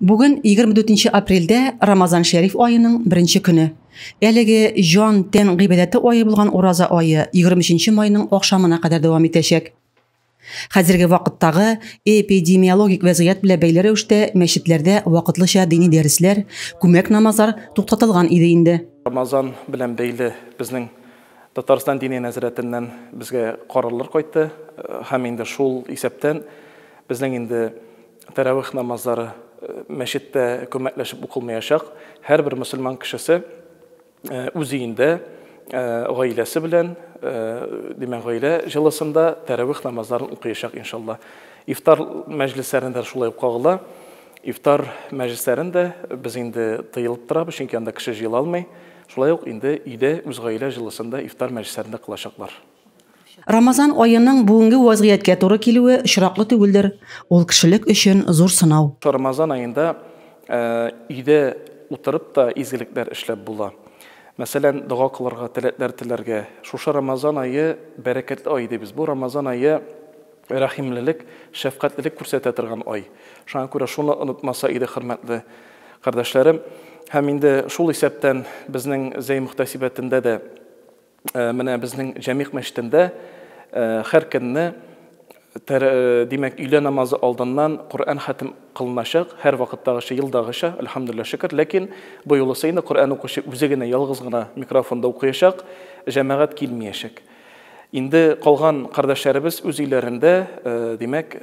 Бүген 24 нче апрельдә Рамазан Шәриф аеның беренче көне. Әлеге җан, тән гыйбадәте ае булган ураза ае 23 нче майның ахшамына кадәр дәвам итәчәк. Хәзерге вакыттагы эпидемиологик вәзгыять белән бәйле рәвештә мәчетләрдә вакытлыча дини дәресләр, күмәк намазлар туктатылган иде инде. Рамазан белән бәйле безнең Татарстан Диния нәзарәтеннән безгә карарлар кайтты һәм инде шул исәптән безнең инде Тәравих намазлары мәчеттә күмәкләшеп укылмаячак. Һәрбер мөселман кешесе үз өендә, гаиләсе белән, димәк, гаилә җылысында тәравих намазларын укыячак, иншалла. Ифтар мәҗлесләрен дә шулай ук кагыла. Ифтар мәҗлесләрен дә без инде тыелып торабыз, чөнки анда кеше җыела алмый. Шулай ук инде өйдә, үз гаилә җылысында ифтар мәҗлесләрен дә кылачаклар. Рамазан аеның бүгенге вәзгыятькә туры килүе очраклы түгелдер, ул кешелек өчен зур сынау. Рамазан аенда өйдә утырып та изгелекләр эшләп була. Мәсәлән, дога кылырга, теләкләр теләргә. Шушы Рамазан ае бәрәкәтле ай дибез. Бу Рамазан ае рәхимлелек, шәфкатьлелек күрсәтә торган ай. Шуңа күрә шуны онытмаса иде хөрмәтле кардәшләрем. Һәм инде шул исәптән безнең Зәй мөхтәсибәтендә дә Менә безнең Җәмигъ мәчетендә һәр көнне димәк, өйлә намазы алдыннан Коръән хәтем кылыначак, һәр вакыттагыча, елдагыча, әлхәмдулиллаһ шөкер. Ләкин бу юлысы инде Коръән укучы үзе генә ялгыз гына микрофонда укыячак, җәмәгать килмиячәк. Инде калган кардәшләребез үз өйләрендә, димәк,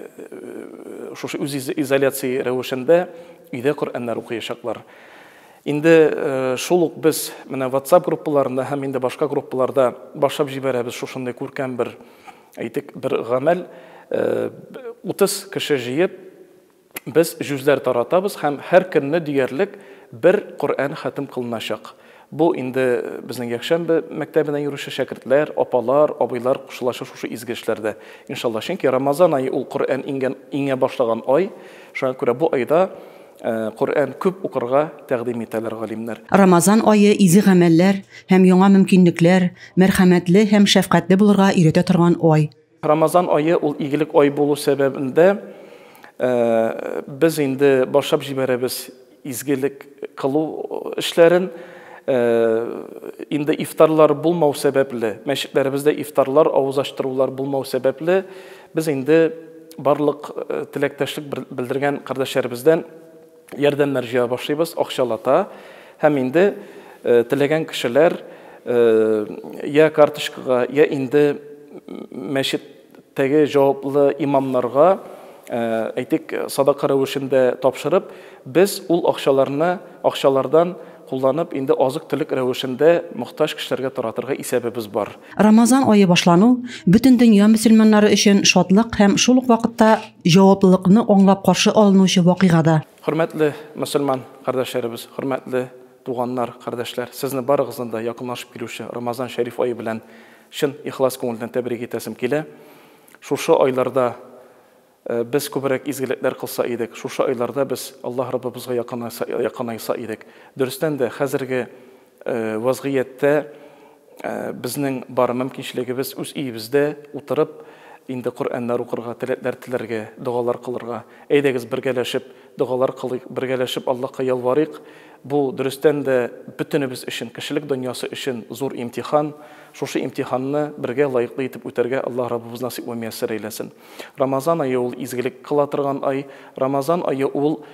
шушы үз изоляция рәвешендә өйдә Коръәннәр укыячаклар. Инде шул ук без менә WhatsApp группаларында һәм инде башка группаларда башлап җибәрәбез шушындый күркәм бер, әйтик, бер гамәл. 30 кеше җыеп, без җүзләр таратабыз һәм һәр көнне диярлек бер Коръән хәтем кылыначак. Бу инде безнең якшәмбе мәктәбенә йөрүче шәкертләр, апалар, абыйлар кушылачак шушы изге эшләрдә, иншалла. Чөнки Рамазан ае ул Коръән иңгән, иңә башлаган ай. Шуңа күрә бу айда Коръән күп укырга тәкъдим итәләр галимнәр. Рамазан ае изге гамәлләр һәм яңа мөмкинлекләр, мәрхәмәтле һәм шәфкатьле булырга өйрәтә торган ай. Рамазан ае ул игелек ай булу сәбәбен дә без инде башлап җибәрәбез изгелек кылу эшләрен. Инде ифтарлар булмау сәбәпле, мәчетләребездә ифтарлар, авыз ачтырулар булмау сәбәпле, Без инде барлык теләктәшлек белдергән кардәшләребездән ярдәмнәр җыя башлыйбыз, акчалата. Һәм инде теләгән кешеләр я карточкага, я инде мәчеттәге җаваплы имамнарга, әйтик, садака рәвешендә тапшырып, Без ул акчаларны акчалардан кулланып инде азык-төлек рәвешендә мохтаҗ кешеләргә таратырга исәбебез бар. Рамазан ае башлану, бөтен дөнья мөселманнары өчен шатлык һәм шул ук вакытта җаваплылыкны аңлап каршы алынучы вакыйга да. Хөрмәтле мөселман кардәшләребез, хөрмәтле туганнар, кардәшләр, сезне барыгызны да якынлашып килүче Рамазан шәриф ае белән чын ихлас күңелдән тәбрик итәсем килә. Шушы айларда Без күбрәк изгелекләр кылса идек, шушы айларда без Аллаһ Раббыбызга якынайса идек. Дөрестән дә, хәзерге вазгыятьтә безнең бар мөмкинчелегебез үз өебездә утырып, инде Коръәннәр укырга, теләкләр теләргә, догалар кылырга. Әйдәгез, бергәләшеп догалар кылыйк, бергәләшеп Аллаһка ялварыйк. Бу, дөрестән дә, бөтенебез өчен, кешелек дөньясы өчен зур имтихан. Шушы имтиханны бергә лаеклы итеп үтәргә Аллаһ Раббыбыз насыйп вә мияссәр әйләсен. Рамазан ае ул изгелек кыла торган ай. Рамазан ае ул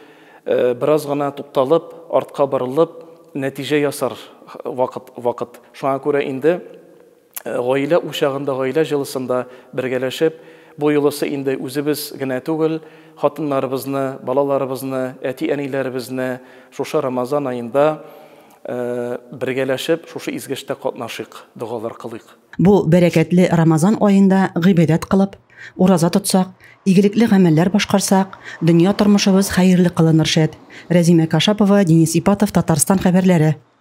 бераз гына тукталып, артка борылып, нәтиҗә ясар вакыт. вакыт. Шуңа күрә инде гаилә учагында, гаилә җылысында бергәләшеп, бу юлысы инде үзебез генә түгел, хатыннарыбызны, балаларыбызны, әти-әниләребезне шушы Рамазан аенда бергәләшеп, шушы изге эштә катнашыйк, догалар кылыйк. Бу бәрәкәтле Рамазан аенда гыйбадәт кылып, ураза тотсак, игелекле гамәлләр башкарсак, дөнья тормышыбыз хәерле кылыныр шәт. Рәзимә Кашапова, Денис Ипатов, Татарстан хәбәрләре.